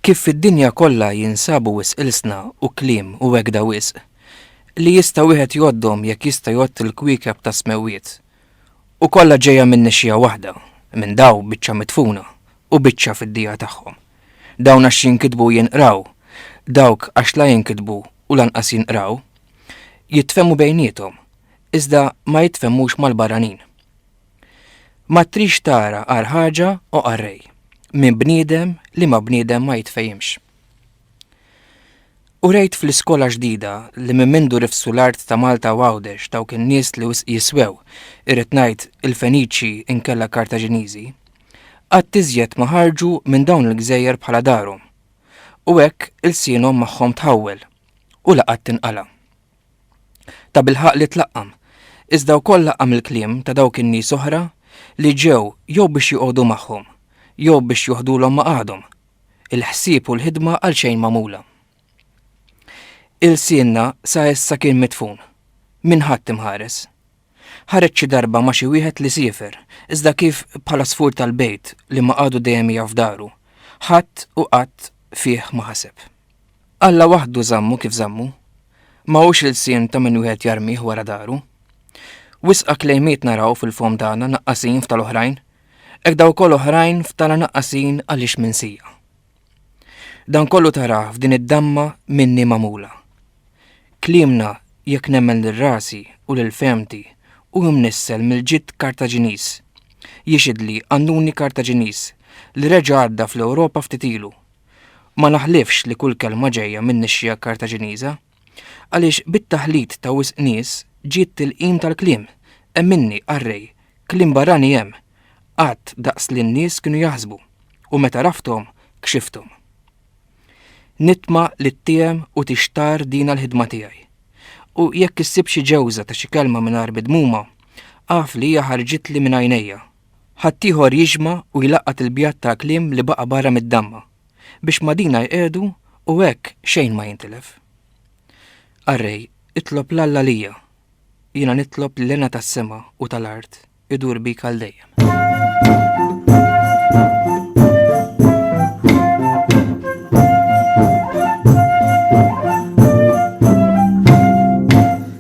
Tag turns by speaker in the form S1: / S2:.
S1: Kif fid-dinja kollha jinsabu wis ilsna u kliem u wegda wisq li jista' wieħed jgħoddhom jekk jista' jgħodd il-kwiekeb tas-smewwiet. U kollha ġejja minn nixxija waħda, minn daw biċċa mitfuna, u biċċa fid-dija tagħhom. Dawn għax jinkitbu u jinqraw, dawk għax la jinkitbu u lanqas jinqraw, jitfehmu bejniethom, iżda ma jitfehmux mal-barranin. Ma trix tara għar ħaġa u qarrej, minn bniedem li ma bniedem ma jitfejimx. U rejt fl-iskola ġdida li minn mindu rifsu l-art ta' Malta u Għawdex dawk in-nies li jiswew, irrid ngħid il-Feniċi inkella Kartaġiniżi, Qatt iżjed ma ħarġu minn dawn il-gżejjer bħala darhom, u hekk ilsienhom magħhom tħawwel, u la qatt tinqala'. Tabilħaqq li tlaqqam, iżda wkoll laqqam il-kliem ta' dawk in-nies oħra li ġew jew biex joqogħdu magħhom, jew biex joħdulhom maqgħadhom, il-ħsieb u l-ħidma għalxejn magħmula. Ilsienna sa issa kien midfun, minn ħadd imħares. Ħareġ xi darba ma' xi wieħed li siefer, iżda kif bħala sfur tal-bejt li ma qagħdu dejjem jaf daru, ħadd u qatt fih ma ħaseb. Alla waħdu żammu kif żammu. Ma hux ilsien ta' min wieħed jarmih wara daru. Wisqa klejmiet naraw fil-fomm tagħna naqqasin f'tal-oħrajn, hekk dawk ukoll oħrajn f'tagħna naqqasin għaliex minsija. Dan kollu tarah f'din id-damma minni magħmula. Kliemna jekk nemmen lil rasi u lil fehmti u mnissel mill-ġid Kartaġiniż. Jixhidli qannuni Kartaġiniż li reġa' għadda fl-Ewropa ftit ilu. Ma naħlifx li kull kelma ġejja min-nixxiegħa Kartaġiniża. Għaliex bit-taħlit ta' wisq nies ġiet tilqim tal-kliem. Emminni, qarrej, kliem barrani hemm, qatt daqs li n-nies kienu jaħsbu, u meta għrafthom, kxifthom. Nitma' li ttiehem u tixtarr dina l-ħidma tiegħi. U jekk issib xi ġewża ta' xi kelma mingħajr midmuma, agħrf li hija ħarġitli minn għajnejja. Ħaddieħor jiġma' u jlaqqat il-bjad tal-kliem li baqa' barra mid-damma. biex ma' dina jqiegħdu u hekk xejn ma jintilef. Arrej, itlob 'l Alla lija, jiena nitlob li l-hena tas-sema u tal-art idur bik għal dejjem.